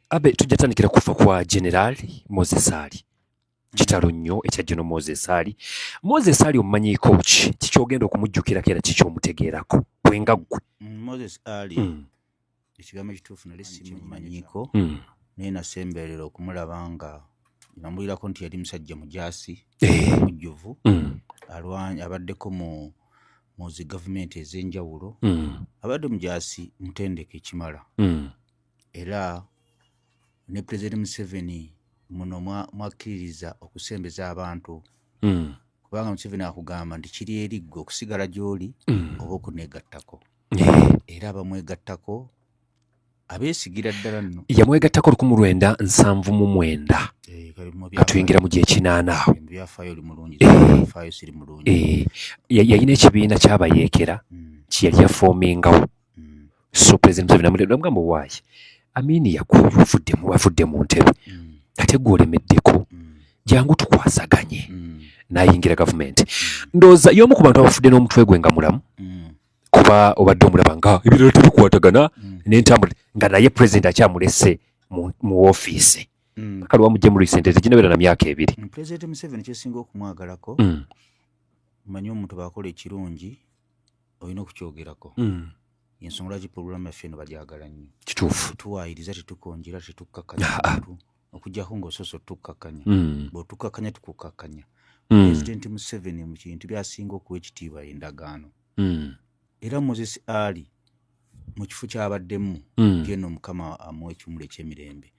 abe tujja tandikira kufa kwa general moses ali kitalo nnyo ekya geno moses ali moses ali omumanyiiko ki kikyogenda okumujjukirako era kikyomutegeerako gwenga gwe mm, moses ali mm. ekigambo ekituufu nali simumanyiko mm. naye nasemberera okumulaba nga namulirako nti yali musajja mujaasi eh. mujjuvu mm. abaddeko mu muzi gavumenti ez'enjawulo mm. abadde mujaasi mutendeke ekimala mm. era ne pulezidenti museveni muno mwakkiririza okusembeza abantu hmm. kubanga museveni akugamba nti kiri eriggwe okusigala gy'oli hmm. oba okuneegattako eh. era abamwegattako abeesigira ddala nno yamwegattako lukumu lwenda nsanvu mu mwenda eh, atuyingira mu gyekinaana awo eh. yalina ekibiina kyabayeekera hmm. kyeyali yafoomingawo so president museveni amutebula mugamba owaayi amini yakuyu ovuddemu wavudde mu ntebe mm. ate gwe olemeddeko mm. jangu tukwasaganye mm. nayingira gavumenti mm. ndooza y'omu ku bantu abafudde n'omutwe gwe nga mulamu mm. kuba obadde omulaba nga ebirala tebikwatagana mm. nentambula nga naye president akyamulese mu, mu ofiisi mm. kale wamujje mu recent teginabera na myaka ebiri mm, president museveni kyesinga okumwagalako mm. manyi omuntu bakola ekirungi olina okukyogerako mm. ensonga lwaki pulogulaamu yaffe eno bagyagala nnyo kituufu tetuwaayiriza tetukonjera tetukkakkanya ah, ah. okujjako ng'osoose otukkakkanya mm. bw'otukkakkanya tukukkakkanya mm. pulezidenti museveni mu kintu byasinga okuwa ekitiibwa endagaano era moses ali mu kifo kyabaddemu geno mukama amuwa ekimulu ekyemirembe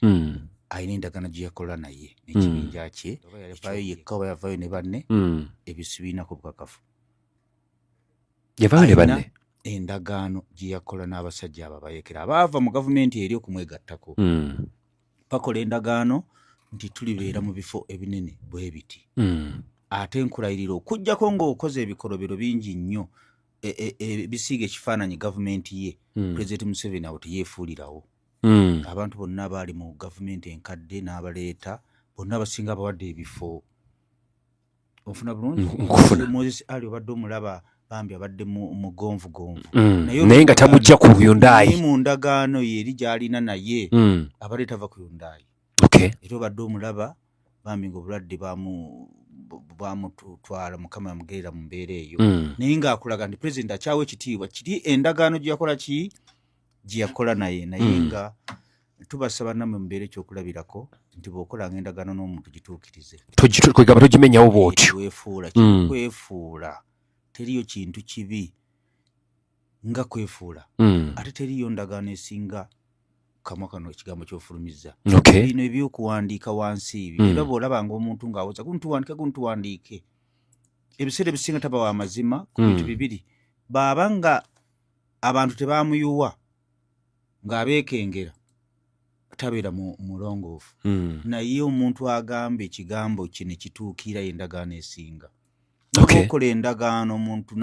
alina endagana gye yakola naye nekibinja kye yavayo yekka oba yavayo ne banne ebisibiinako bukakafu yavaayo ne banne endagaano gye yakola n'abasajja abo abayekera abaava mu gavumenti eri okumwegattako hmm. bakola endagaano nti tulibeera mu bifo ebinene bwe biti hmm. ate nkulayirira okujjako ng'okoze ebikolobero bingi nnyo e, e, e, ebisiiga ekifaananyi gavumenti ye hmm. pulezidenti museveni awo teyeefuulirawo abantu bonna abaali mu gavumenti enkadde n'abaleeta bonna abasinga abawadde ebifo ofuna bulungi nkufuna moses ali obadde omulaba bambi abadde mugonvu gonvu mm. naye nga tamujja ku yundaayi mu ndagaano ye eri gyalina naye mm. abadde tava ku yundaayi era obadde omulaba bambi nga obulwadde bwamutwala mukama yamugerera mu mbeera eyo mm. naye ngaakulaga nti pulezidenti akyawa ekitiibwa kiri endagaano gyeyakola ki gye yakola naye naye mm. nga tubasaba namwe mubeere ekyokulabirako nti bwokolanga endagaano n'omuntu gituukirize kwegaba togimenyawo bwotyo kwefuula mm. kwefuula teriyo kintu kibi nga kwefuula mm. ate teriyo ndagaano esinga kamwa kano ekigambo kyofulumiza bino ebyokuwandiika wansi ebyo mm. era bwolaba nga omuntu ng'awoza guntuwandike guntuwandiike ebiseera ebisinga taba wa mazima ku bintu bibiri baaba nga abantu tebamuyuwa ng'abeekengera tabeera mulongoofu hmm. naye omuntu agamba ekigambo kye ne kituukira endagaano esinga okola endagaano omuntu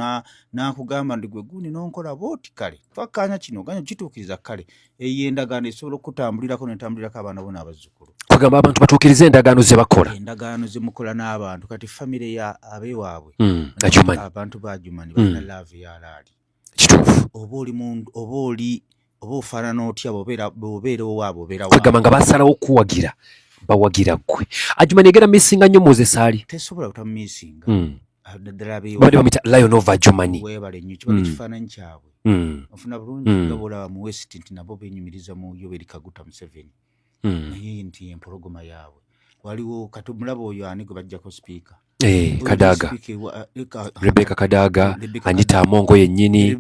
n'akugamba nti gwe gundi n'onkola booti kale twakkaanya kino ganya kituukiriza kale eyo endagaano esobola okutambulirako netambulirako abaana bona abazzukulu kugamba abantu batuukiriza endagaano ze bakola endagaano ze mukola n'abantu kati famire ya abewaabwe hmm, abantu bajumanyi balina hmm. laavu ya laali kituufu oba oli mundu oba oli oba ofaanana otya bobeera owaabo obeerakwegamba nga basalawo okuwagira bawagira ggwe ajuma negera missinga nnyo muzesaali tesobola butamisinga hmm. ah, bade bamuyita lion of ajumani webale nnyo kiba hmm. ekifaananyi kyabwe hmm. ofuna bulungi nga bolaba mu west nti nabo benyumiriza mu yoweri kaguta museveni hmm. naye nti empologoma yaabwe waliwo kati omulaba oyo ani gwe bajjako sipiika eh, kadaga eh, rebeka kadaga anyita amongo yennyini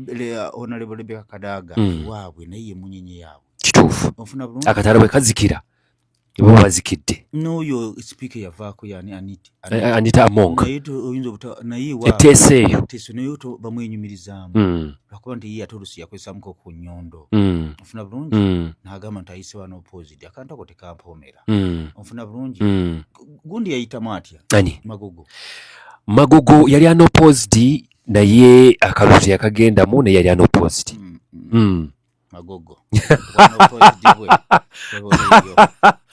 onalebo rebeka kadaga hmm. waabwe naye yemunyenye yaabwe kituufu akatala bwe kazikira nebaba bazikidde n'oyo sipiika eyavaako yani aniti anyita eh, eh, among eteesa eyo bamwenyumirizaamu hmm. lwakuba nti ye ate olusi yakozesamuko ku nyondo hmm. ofuna bulungi hmm. nagamba nti ayise wano opposite akantu ako tekampomera ofuna bulungi gundi yayitamu atya magogo magogo yali anoposed naye akalusi yakagendamu naye yali anoposed magogo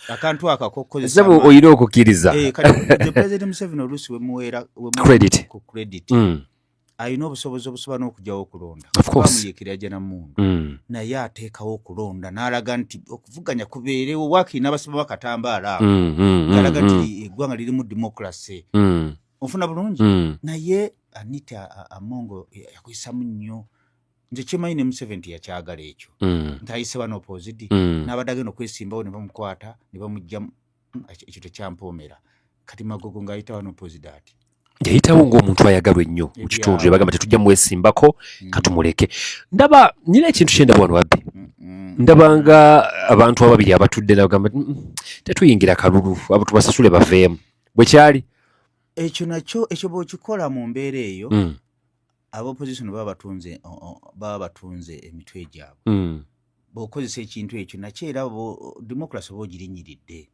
akantu akakokozesebo oyina okukiriza eh, president museveni oluusi wemuweera credit ku credit mm. alina obusobozi obusobola n'okujawo okulonda amuyekera aja namundu mm. naye ateekawo okulonda n'alaga nti okuvuganya kubeerewo wakiri n'abasaba bakatambaala awo mm, mm, alaga nti eggwanga lirimu democracy ofuna bulungi naye anita amongo yakozesamu nnyo nze kyemanyi ne museveni teyakyagala ekyo mm. nti ayise bano opozidi mm. n'abadde agenda okwesimbawo ne bamukwata ne bamujja ekyo tekyampoomera kati magogo ng'ayitawo n'opozidi ati yayitawo ng'omuntu ayagalwa ennyo mu kitundu ne bagamba tetujja mwesimbako mm. katumuleke ndaba nyina ekintu kyendaba wano wabbi ndaba nga abantu ababiri abatudde nabagamba tetuyingira kalulu abo tubasasule baveemu bwe kyali ekyo nakyo ekyo bw'okikola mu mbeera eyo mm. abopposition baba batunze baba batunze emitwe gyabwe mm. bwokozesa ekintu ekyo nakyo era democracy oba ogirinyiridde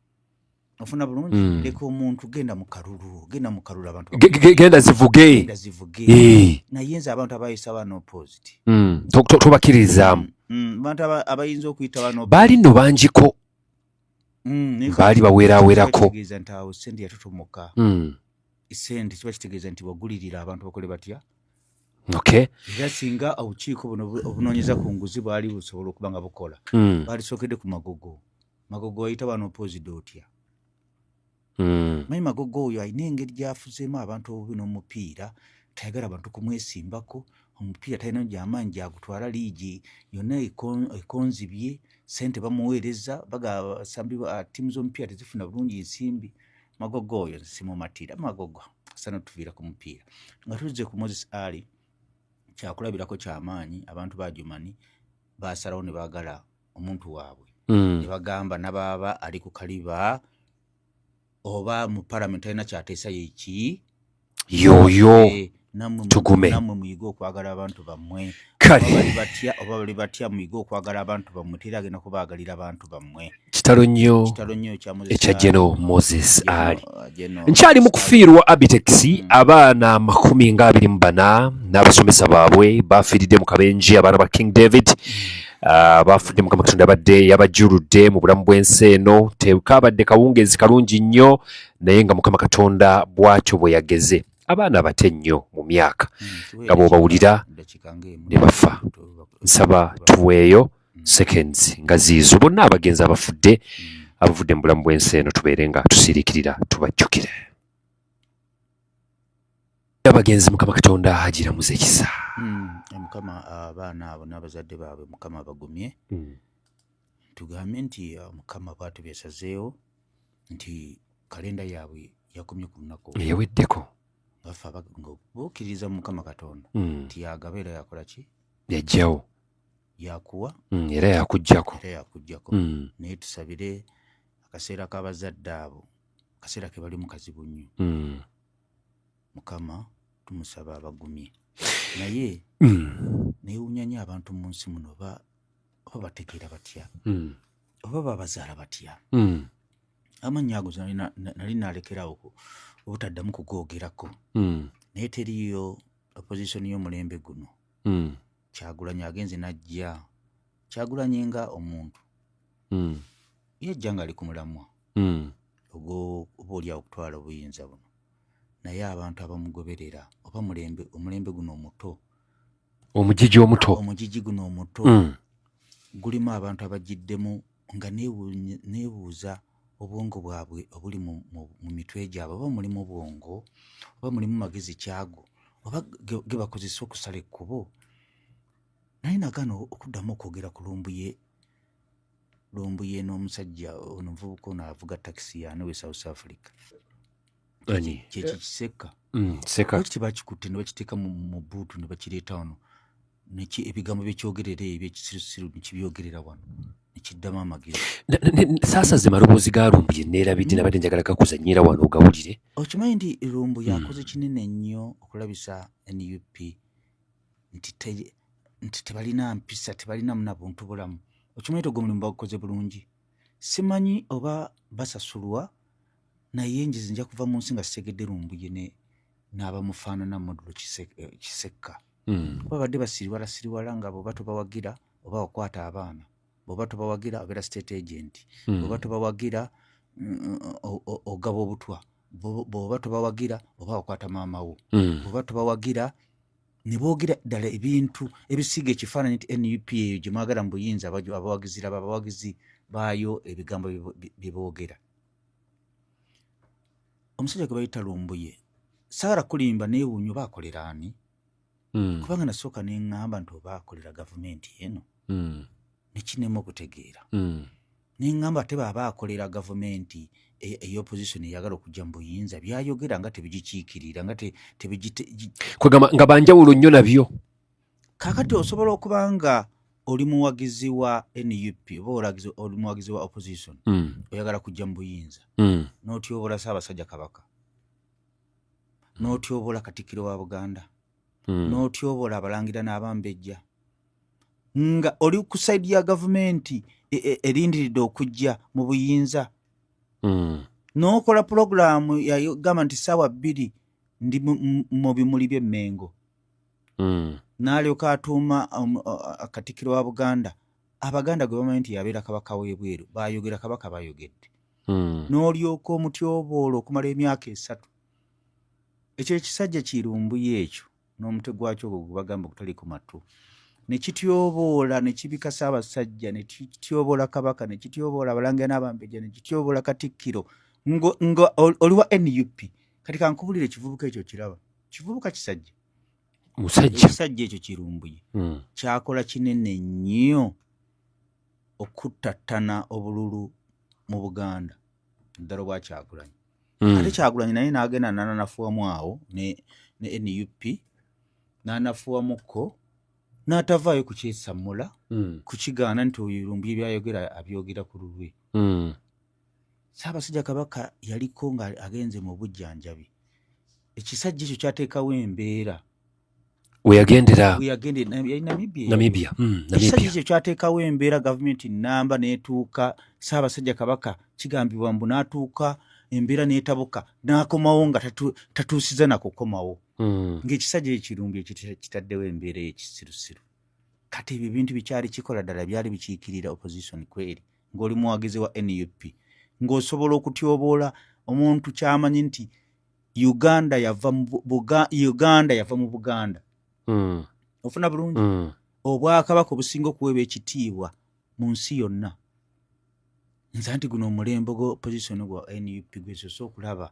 ofuna bulungi mm. leka omuntu genda mu kalulu genda mu kalulu abantu genda zivuge eh. naye nze abantu abayisa bano opposed mm. tobakiririzaamu mm. mm. abantu abayinza okuyita bano baali no bangiko mm, baali baweerawerako mm. sente kiba kitegeeza nti wagulirira abantu bakole batya okay era singa obukiiko buno obunoonyeza ku nguzi bwali busobola okuba nga bukola mm. baalisookedde ku magogo magogo wayita bano opozida otya Mm. Manyi magogo oyo alina engeri gyafuzeemu abantu obubi n'omupiira tayagala bantu kumwesimbako omupiira talina gyamaanyi gyagutwala liigi yonna ekonzibye sente bamuweereza bagasambi tiimu z'omupiira tezifuna bulungi ensimbi magogo oyo simumatira magogo sana tuviira ku mupiira nga tuzze ku moses ali kyakulabirako kyamaanyi abantu bajumani basalawo ne baagala omuntu waabwe mm. ne bagamba nabaaba ali ku kaliba oba mu palamenti talina kyateesa yeki yoyo eh, tugume namwe muyige okwagala abantu bammwe bali batya oba bali batya muyige okwagala abantu bammwe tera agenda kubaagalira abantu bammwe kitalo nnyo ekya geno moses ali uh, nkyali mu kufiirwa abitex hmm. abaana amakumi nga abiri mu bana n'abasomesa baabwe bafiiridde mu kabenji abaana ba king david hmm. Ah, baafudde mukama katonda abadde yabajjuludde mu bulamu bw'ensi eno tekaabadde kawungeezi kalungi nnyo naye nga mukama katonda bw'atyo bwe yageze abaana abate nnyo mu myaka hmm, nga bw'obawulira ne bafa nsaba tuweeyo hmm. seconds nga ziizo bonna abagenzi abafudde hmm. abavudde mu bulamu bw'ensi eno tubeere nga tusiriikirira tubajjukire abagenzi mukama katonda agiramuza ekisa hmm, eh, mukama abaana abo n'abazadde baabwe mukama abagumye hmm. tugambe nti eh, mukama bwatu besazeewo nti kalenda yaabwe yakomye ku lunaku eyaweddeko bafe ngabukkiririza mu mukama katonda hmm. nti yagaba era yakola ki yajjawo yakuwa era yakujjako era yakujjako naye tusabire akaseera k'abazadde abo akaseera ke bali mu kazibu nnyo mukama tumusaba abagumye naye hmm. newunyanya abantu mu nsi muno oba bategeera batya hmm. oba babazaala batya hmm. amannya ago nali nalekerawo obutaddamu kugoogerako naye teriyo opposition y'omulembe guno kyagulanyi agenze najja kyagulanyi nga omuntu mm. yajja nga ali ku mulamwa mm. oba olyawo okutwala obuyinza buno naye abantu abamugoberera oba mulembe omulembe guno omuto omujiji omuto omujiji guno omuto mm. gulimu abantu abajiddemu nga nebuuza obwongo bwabwe obuli mu mitwe gyabwe oba mulimu bwongo oba mulimu magezi kyago oba gebakozesa okusala ekkubo naye nagana okuddamu okwogera ku lumbuye lumbuye n'omusajja ono muvubuka ono avuga takisi yane we south africa ani kyekyo eh. kisekka mm, seka lwaki tebakikutte ne bakiteeka mu buutu ne bakireeta wano neki ebigambo byekyogerera ebyo ekisirusiru nekibyogerera wano nekiddamu amagezi saasa ze maloboozi ga lumbu ye neerabidde mm. nabadde njagala gakuzanyiira wano ogawulire okimanyi nti lumbu mm. yakoze kinene nnyo okulabisa nup nti tebalina mpisa tebalinamu nabuntu bulamu okimanyi ti ogwo mulimu bagukoze bulungi simanyi oba basasulwa naye njizi nja kuva mu nsi nga sitegedde lumbuye ne n'abamufaanana modulo eh, kisekka hmm. kuba badde basiriwala siriwala nga bwoba tobawagira oba wakwata abaana bwoba tobawagira obeera state agent hmm. bwoba tobawagira mm, ogaba obutwa bwoba tobawagira oba wakwata maama wo hmm. bwoba tobawagira ne boogera ddala ebintu ebisiiga ekifaananyi nti nup eyo gye mwagala mu buyinza abawagizi laba abawagizi baayo ebigambo bye boogera omusajja gwe bayita lumbuye saara kulimba neewuunya oba akolera ani hmm. kubanga nasooka ne ŋŋamba nti oba akolera gavumenti eno hmm. nekinema okutegeera hmm. nengamba ate baba akolera gavumenti e, eyoposition eyagala okujja mu buyinza byayogera nga tebigikiikirira nga kwegamba nga banjawulo nnyo nabyo kakati osobola okuba nga oli muwagizi wa nup oba oli muwagizi wa opposition hmm. oyagala kujja mu buyinza hmm. notyobola saabasajja kabaka notyobola katikiro wa buganda mm. n'otyobola abalangira n'abambejja nga oli ku saidi ya gavumenti e, e, erindiridde okujja mu buyinza mm. n'okola pulogulaamu yagamba nti saawa bbiri ndi mu bimuli by'emmengo mm. n'alyoka atuuma um, akatikiro wa buganda abaganda gwe bamanyi nti yabeera kabaka w'ebweru bayogera kabaka bayogedde mm. n'olyoka omutyoboola okumala emyaka esatu ekyo ekisajja kirumbuyo ekyo n'omutwe gwakyo ogwo gwebagamba okutaliko matu ne kityoboola ne kibikasa abasajja ne kityoboola kabaka ne kityoboola abalangira n'abambejja ne kityoboola katikkiro nga oliwa nup kati kankubulira ekivubuka ekyo kiraba kivubuka kisajja ekisajja ekyo kirumbuye hmm. kyakola kinene nnyo okuttattana obululu mu buganda ddala obwa kyagulanyi hmm. ate kyagulanyi naye nagenda nananafuwamu awo ne nup nanafuwamukko natavaayo kukyesammula hmm. kukigaana nti oyo lumbu ebyayogera abyogera ku lulwe hmm. saabasajja kabaka yaliko nga agenze mu bujjanjabi ekisajja ekyo kyateekawo embeera weyagendera Namibia hmm, ekisaji ekyo kyateekawo embeera gavumenti namba netuuka Ssaabasajja Kabaka kigambibwa mbu natuuka embeera netabuka nakomawo nga tatuusiza nakukomawo hmm. ngaekisaja ekirungi ekitaddewo embeera ekisirusiru kati ebyo ebintu bikyali kikola ddala byali bikiikirira opposition kweri ngaoli muwagizi wa nup ngaosobola okutyoboola omuntu kyamanyi nti uganda yava uganda yava mu buganda mm. ofuna bulungi mm. obwakabaka obusinga okuweebwa ekitiibwa mu nsi yonna nze nti guno omulembe gwa opposition gwa nup gwesosa okulaba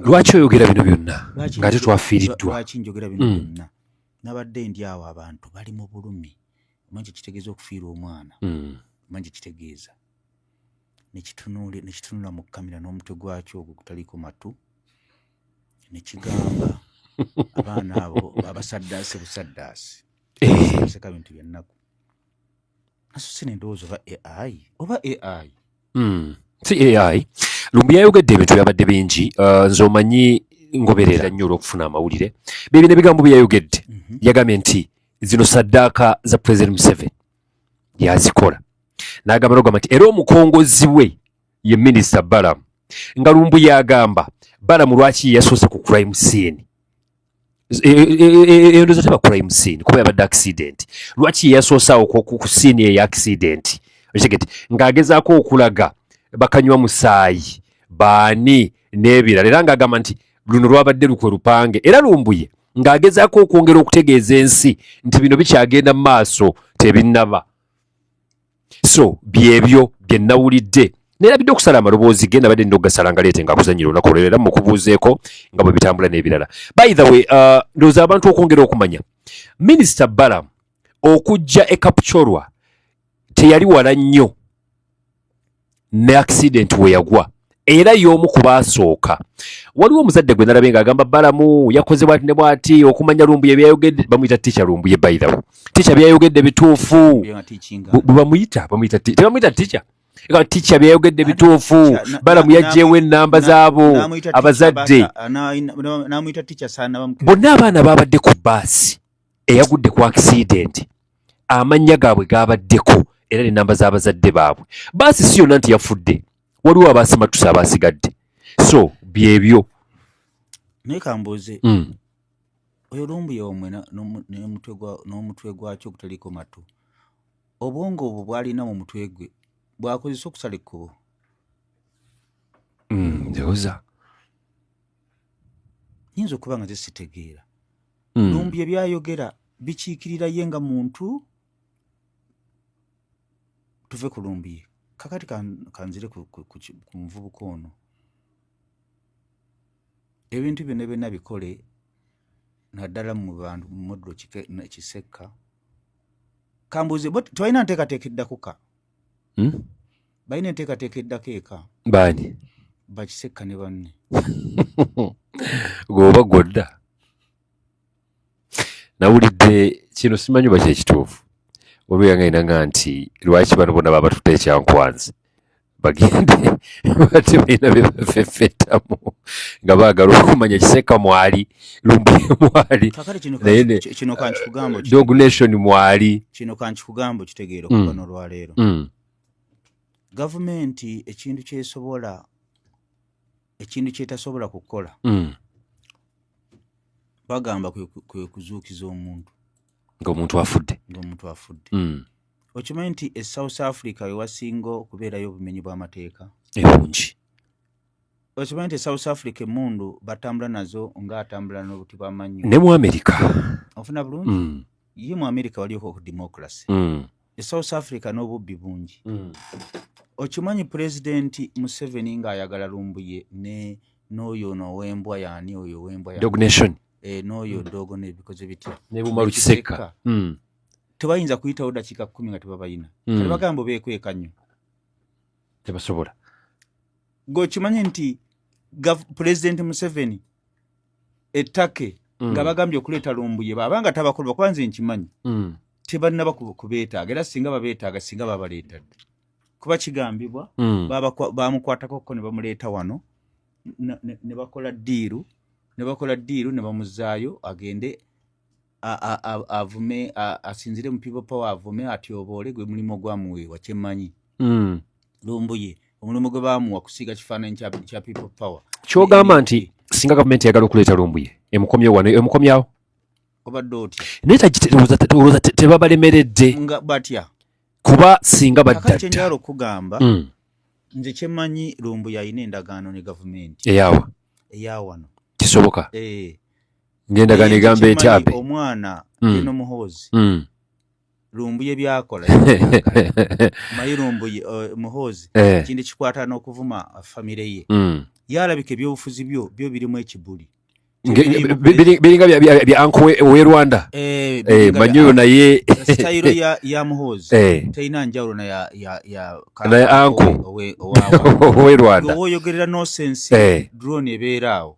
lwaki oyogera bino byonna nga te twafiiriddwalwaki njogera bino mm. byonna nabadde ndi awo abantu bali mu bulumi omanyi kyekitegeeza okufiirwa omwana mm. omanyi kyekitegeeza nekitunula mu kamera n'omutwe gwakyo ogwo gutaliko matu nekigamba abaana abo babasaddaase busaddaasi eh. seka bintu byannaku nasose nendowooza oba ai oba ai hmm. si ai lumbu yayogedde ebintu byabadde bingi uh, nze omanyi ngoberera nnyo olwokufuna amawulire byebina ebigambo byeyayogedde mhm. yagambye nti zino saddaaka za president museveni yazikola n'agamba nogamba nti era omukongozi we ye minisita balamu nga lumbu yagamba balamu lwaki yeyasoose ku crime scene endoza teba crime scene kuba yabadde accident lwaki yeyasoosaawo ku scene eyo accident okitegete ng'agezaako okulaga bakanywa musaayi baani n'ebirala era ng'agamba nti luno lwabadde lukwe lupange era lumbuye ng'agezaako okwongera okutegeeza ensi nti bino bikyagenda mu maaso tebinnaba so byebyo bye nnawulidde nerabidde okusala amaloboozi ge nabadde nina okugasala nga leete nga kuzanyira olunaku olwero era mukubuuzeeko nga bwe bitambula n'ebirala by the way uh, ndowooza abantu okwongera okumanya minisita balamu okujja e kapchorwa teyali wala nnyo ne accident we yagwa era y'omu ku baasooka waliwo omuzadde gwe nalabe ng'agamba balamu yakoze bwati ne bwati okumanya lumbuye byayogedde bamuyita ticha lumbuye bayirawo ticha byayogedde bituufu bwebamuyita bamuyita tebamuyita ticha nga ticha byayogedde bituufu balamu yajjeewo ennamba zaabo abazadde bonna abaana baabadde ku baasi eyagudde ku akisidenti amannya gaabwe gaabaddeko era n'ennamba z'abazadde baabwe baasi si yonna nti yafudde waliwo abaasimattusa abaasigadde so byebyo naye kambuuze hmm. oyo lumbuya omwe n'omutwe gwakyo ogutaliko matu obwongo obwo bwalina mu mutwe gwe bwakozesa okusala ekkubo hmm, ndowoza nyinza okuba nga zesitegeera hmm. lumbi ebyayogera bikiikirira ye nga muntu tuve ku lumbi kakati kanzire ku muvubuka ono ebintu byona byona bikole naddala mu bantu mu modulo kisekka kambuuze twalina nteekateeka eddakuka hmm? balina enteekateeka eddako eka baani bakisekka ne banne gweoba gwodda nawulidde kino simanyi oba kyekituufu waliwo yangainanga nti lwaki bano bona baba batute ekyankwanzi bagende bati balina bebafefetamu nga baagala okumanya kiseeka mwali lumbuye mwali dognation mwali kino kankikugambo kitegeera okuba mm. nolwaleero mm. gavumenti ekintu kyesobola ekintu kyetasobola kukola mm. bagamba kwekuzuukiza omuntu ngaomuntu afudde ngaomuntu afudde okimanyi nti e south africa wewasinga okubeerayo obumenyi bw'amateeka ebungi okimanyi nti south africa emundu batambula nazo nga atambula nobuti bwamanyo ne mu america ofuna bulungi mm. ye mu america walioko ku democracy mm. e south africa n'obubbi bungi mm. okimanyi pulezidenti museveni ng'ayagala lumbuye ne n'oyo nowembwa yani oyo wembwa dognation eh, n'oyo mm. dogo nebikoze bitya nebumalu kisekka mm. tebayinza kuyitawo dakiika kumi nga tebabayina mm. kale bagamba bekweka nnyo tebasobola gokimanye nti pulezidenti museveni ettake mm. nga bagambye okuleeta lumbuye baba nga tabakulu bakuba nze nkimanyi mm. tebanaba kubeetaaga era singa babeetaaga singa babaleetadde kuba kigambibwa mm. bamukwatako ko ne bamuleeta wano ne bakola diiru ne bakola diiru ne bamuzaayo agende avume asinzire mu people power avume atyoboole gwe mulimu ogwamuweebwa kyemmanyi mm. lumbuye omulimu gwe baamuwa kusiiga kifaananyi kya people power kyogamba nti singa gavumenti yagala okuleeta lumbuye emukomyewo wano emukomyawo obadde otya naye tagiteolooza tebabalemeredde nga batya kuba singa baddakyendala okugamba mm. nze kyemmanyi lumbuye alina endagaano ne gavumenti eyawa eyawano kisoboka eh. ngendagano egamba etyabe omwana mm. eno muhoozi mm. lumbuye byakola mayi lumbuye uh, muhoozi eh. ekintu eh. kikwata n'okuvuma famire ye mm. yalabika ebyobufuzi byo byo birimu ekibuli biringa bya anko we rwanda eh, eh, manyoyo naye sitayiro ya muhoozi eh. terina njawulo naye anko owe rwanda owoyogerera nosensi drone ebeera awo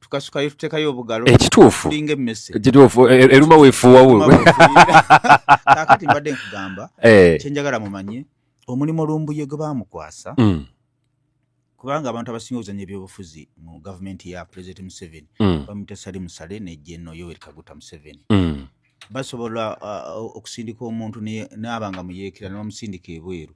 tukasukayo tutekayo obugalo ekituufu tulinga emmese ekituufu e, e, eruma weefuuwa wuwe kakati mbadde nkugamba eh. kyenjagala mumanye omulimu lumbuye gwe baamukwasa mm. kubanga abantu abasinga okuzanya ebyobufuzi mu gavumenti ya pulezidenti museveni mm. bamuyita sali musale ne jeno yoweri kaguta museveni mm. basobola uh, okusindika omuntu n'aba nga muyeekera nebamusindika ebweru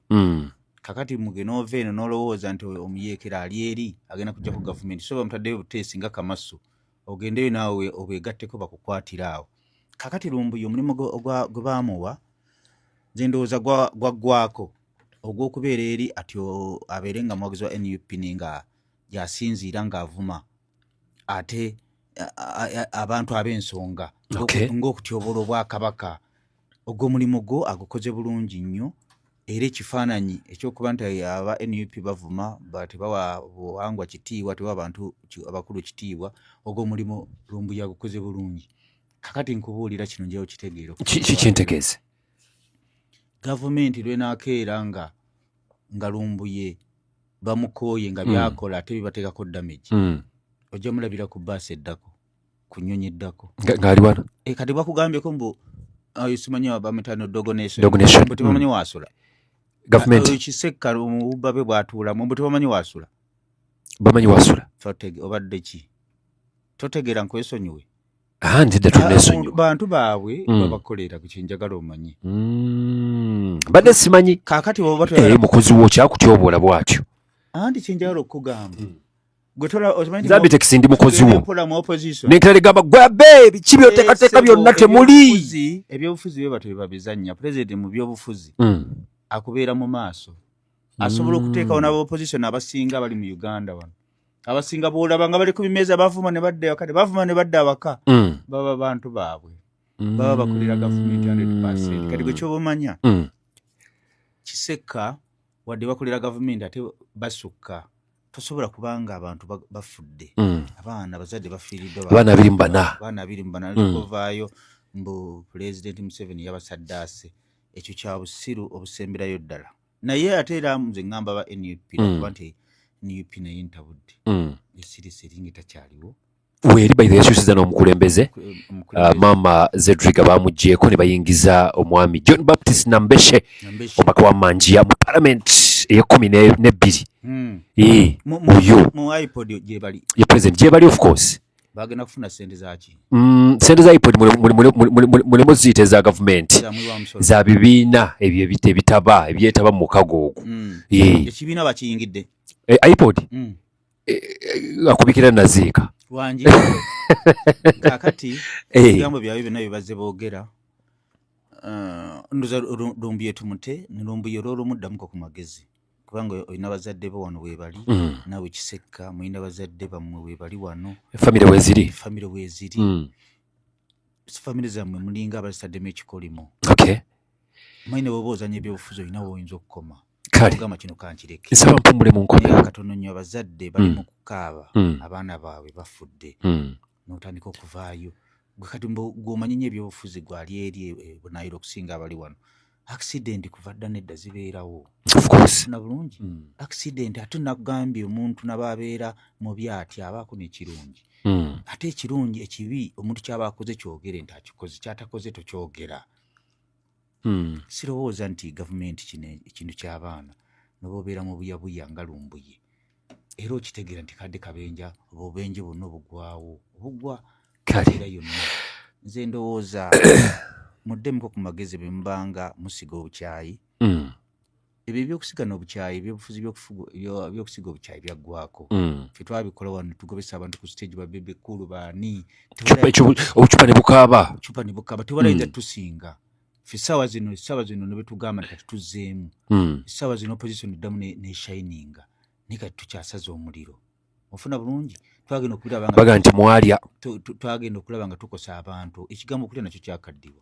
kakati mugena ova eno nolowooza nti omuyeekera ali eri agenda kujja ku gavumenti so bamutaddeyo obuteesi nga kamasu ogendeyo naawe obwegatteko bakukwatira awo kakati lumbuye omulimu gwe baamuwa nze ndowooza gwaggwako ogw'okubeera eri ati abeere nga muwagizi wa nup ninga gyasinziira ng'avuma ate abantu ab'ensonga ng'okutyobola obwakabaka ogwo mulimu gwo agukoze bulungi nnyo era ekifaananyi ekyokuba nti aba nup bavuma tebawa buwangwa kitiibwa tebawa abantu abakulu kitiibwa ogwo mulimu lumbuya agukoze bulungi kakati nkubuulira kino njawo kitegeero kikintegeeze gavumenti lwenakeera nga nga lumbuye bamukooye nga byakola ate bibateekako damage ojja mulabira ku baasi eddako ku nnyonyi eddako ngaali wano e, kati bakugambyeko mbu ah, simanyi bamitano dogonation mbu tebamanyi wasula kisekka mububabe bwatuulamu mbu tebamanyi wasula bamanyi wasula obadde ki totegeera nkwesonyiwe Ah, nzidde ah, tunesonyiwa bantu baabwe mm. babakolera ku kyenjagala omanyi mm. badde simanyi kakati eh, mukozi wo kyakutyoboola bwatyo anti kyenjagala okukugamba mm. zabitekisi ndi mukozi wo nenkera ligamba gwabe biki byoteekateeka eh, byonna temuli ebyobufuzi bye batyo bebabizannya pulezidenti mu byobufuzi akubeera mu maaso asobola okuteekawo n'abaopozisoni abasinga abali mu uganda wano abasinga bwolaba nga bali ku bimeeza bavuma ne badda ewaka ne bavuma ne badda awaka mm. baba bantu baabwe mm. baba bakolera gavumenti hundred percent kati gwe kyoba omanya mm. kisekka wadde bakolera gavumenti ate basukka tosobola kubanga abantu bafudde mm. abaana abazadde bafiiriddwabaana abiri mu bana abaana abiri mu bana likovaayo mm. mbu pulezidenti museveni yabasaddaase ekyo kya busiru obusemberayo ddala naye ate era nze ŋŋamba ba nup mm. nakuba nti nup naye ntabudde mm. esirisi eringa etakyaliwo weeri baithe yakyusiza n'omukulembeze uh, maama zedriga baamugyeko ne bayingiza omwami john baptist nambeshe omubaka wa manjiya mu parliament eyekumi nebbiri hmm. oyo ye president gyebali of course bagenda kufuna sente zaki mm, sente za ipod mulimu ziyita eza gavumenti za bibiina ebyo ebita ebitaba ebyetaba mu mukago ogwo mm. ekibiina bakiyingidde eh, ipod mm. eh, eh, akubikira naziika wangi kakati ebigambo byabyo byonna byebazze boogera ndoza lumbuye tumute nilumbuye olwolumuddamuko ku magezi kubanga olina bazadde bo wano webali mm. nawe kisekka mulina bazadde bammwe webali wano efamire weziri efamire weziri mm. famire zammwe mulinga abazitaddemu ekikolimo okay. maine bwoba ozanya ebyobufuzi olina woyinza okukoma kaleogamba kino kankireke nsaba mpumule mu nkomyo katono nnyo abazadde bali mm. mu kukaaba mm. abaana baabwe bafudde mm. notandika okuvaayo kati gwomanyi nyo ebyobufuzi gwali eri e, e, bunayira okusinga abali wano accident kuva dda nedda zibeerawo na bulungi hmm. accident ate nakugambye omuntu nababeera mubi atya abaako nekirungi hmm. ate ekirungi ekibi omuntu kyaba akoze kyogere nti akikoze kyatakoze tokyogera hmm. sirowooza nti gavumenti kino ekintu ky'abaana nobaobeera mu buyabuya nga lumbuye era okitegeera nti kadde kabenja oba obubenje bwonna obugwawo obugwa era yonna nze ndowooza muddemuko ku magezi bwe mubanga musiga obukyayi hmm. ebyo ebyokusiga nobukyayi ebyobufuzi byokusiga obukyayi byaggwako mm. fe twabikola wano tugobesa abantu ku stage babebe kulu baani obucupa nebukaaba obucupa nebukaaba tebalayinza mm. tusinga fe saawa zino saawa zino nebetugamba nti kati tuzzeemu mm. saawa zino opposition eddamu neshininga naye kati tukyasaza omuliro ofuna bulungi twagenda okulaba nti mwalya twagenda okulaba nga tukosa abantu ekigambo okulya nakyo kyakaddiwa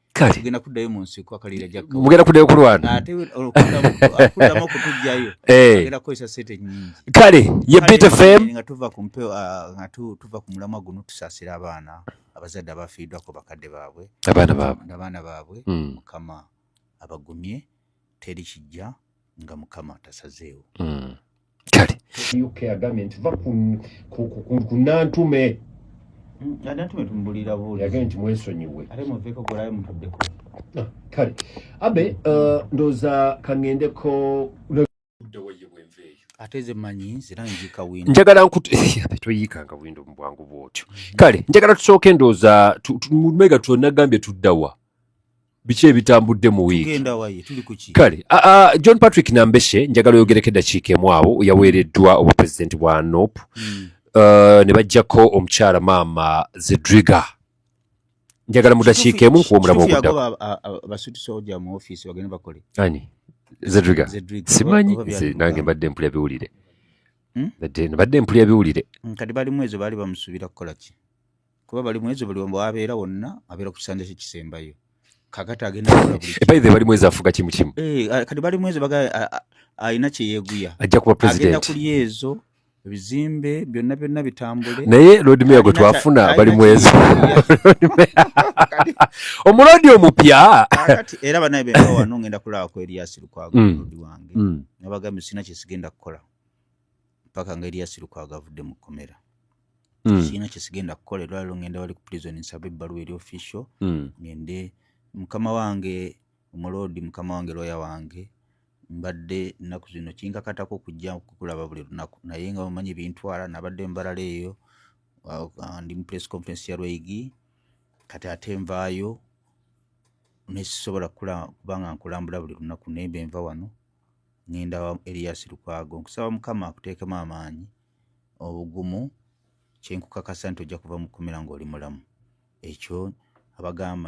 kale tugenda kuddayo mu nsiko akalira jakka mugenda kuddayo kulwana ate okuddamu okutujjayo eh. agenda kukozesa sente nyingi kale ye bit fm nga tuva ku mpeo ah, nga tuva ku mulamwa guno tusaasira abaana abazadde abafiiddwako bakadde baabwe abaana baabwe abaana baabwe hmm. mukama abagumye teri kijja nga mukama tasazeewo hmm. kale uk agambye nti va ku nantume mm, nantume tumubulira buli agambye nti mwesonyiwe ate muveeko golayo mutuddeko ah, kale abe uh, ndoza kangendeko ateze manyi zira njika windo njagala nkutu toyikanga windo mu bwangu bwotyo mm-hmm. kale njagala tusooke ndooza mega twonna gambye tuddawa biki ebitambudde mu wiiki kale john patrick nambeshe njagala oyogereko eddakiika emu awo yaweereddwa obupulezidenti bwa nop hmm. uh, ne bajjako omukyala maama zedriga njagala mu dakiika emu nkuwa omulamu oguddakoani zedriga simanyi nze nange mbadde mpulya biwulire hmm? mbadde mpulya biwulire hmm, kati balimu ezo baali bamusuubira kukola ki kuba bali mwezi buli omu abeera wonna abeera ku kisanja kye kisembayo kakati agenda ebaidhe eh, bali mwezi afuga kimu kimu eh, kati bali mwezi baga alina kyeyeguya ajja kuba presidentagenda kuli ezo ebizimbe byonna byonna bitambule naye lord mayor gwe twafuna bali mwezi omulodi omupya kati era banaye bemba wano ngenda kulaba ku elias lukwago mm. lodi wange mm. nabagambye sina kyesigenda kukola mpaka nga elias lukwago avudde mu kkomera mm. sirina kyesigenda kukola erwaliro ngenda wali ku prison nsaba ebbaluwa eri official mm. ngende mukama wange omuloodi mukama wange looya wange mbadde nnaku zino kinkakatako okujja kukulaba buli lunaku naye nga bamanyi bintwala nabadde mbalala eyo uh, ndi mu press conference ya lweigi kati ate nvaayo nesisobola kubanga nkulambula buli lunaku nembe nva wano ngenda elias lukwago nkusaba mukama akuteekemu amaanyi obugumu kyenkukakasa nti ojja kuva mu kkomera ng'oli mulamu ekyo abagamba